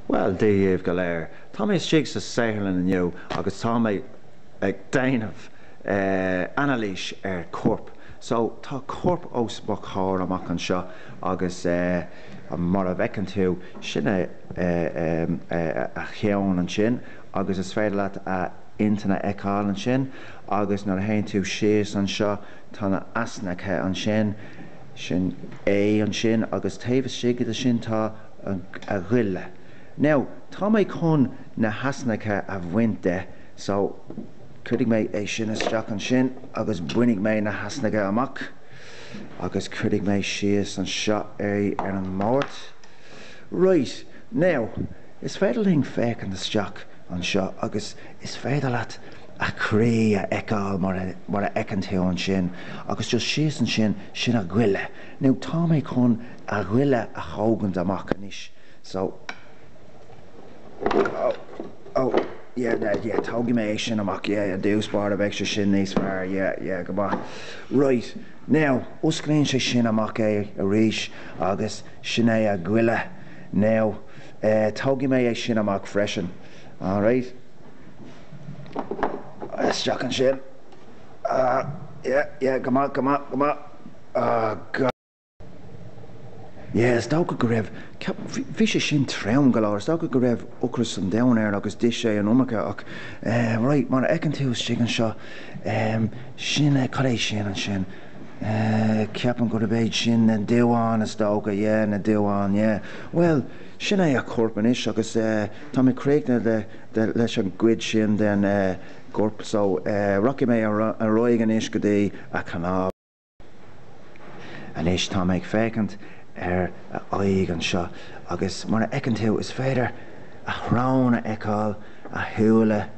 Bhuel, daoibh go léir, tá mé istigh sa tsaotharlann inniu agus tá mé ag déanamh anailís ar chorp. So, tá corp os mo chomhair amach anseo agus mar a fheiceann tú, sin a cheann ansin agus is féidir leat a inchinn a fheiceáil ansin agus nuair a théann tú síos anseo, tá na easnacha ansin. Sin é ansin agus taobh istigh de sin tá a ghoile. Now, tá mé chun na heasnacha a bhaint de so cuirfidh mé é sin isteach ansin agus bainfidh mé na heasnacha amach agus cuirfidh mé síos anseo é ar an mbord. Right, now, is féidir linn féachaint isteach anseo agus is féidir leat a chroí a fheiceáil mar a fheiceann tú ansin agus just síos ansin, sin a ghoile. Now tá mé chun a ghoile a thógaint amach anois so, oh, oh, yeah, yeah, yeah, tógfaidh mé é sin amach, yeah, i dtús báire bheidh sé sin níos fearr, yeah, yeah, go maith. Right, now, osclaíonn sé sin amach é arís agus sin é a ghoile. Now, eh, tógfaidh mé é sin amach freisin. Alright. isteach ansin. Ah, yeah, yeah, go maith, go maith, go maith. Ah, go. Yeah, is dócha go raibh, bhí sé sin trom go leor, is dócha go raibh ocras an domhain air agus d'ith sé an iomarca ach, eh, right, mar a fheiceann tú istigh anseo, em, sin é, cad é sin ansin? Eh, ceapaim gurb iad sin na duáin is dócha, yeah, na duáin, yeah. Bhuel, Sin é a chorp anois agus tá mé críochnaithe leis an gcuid sin den gcorp so rachaidh mé ar aghaidh anois go dtí a chnámha. Anois tá mé ag féachaint ar a aghaidh anseo agus mar a fheiceann tú is féidir a shrón a fheiceáil, a shúile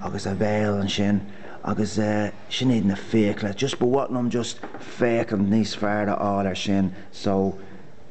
agus a bhéal ansin agus sin iad na fiacla. Just ba mhaith liom just féachaint níos fearr a fháil air sin so,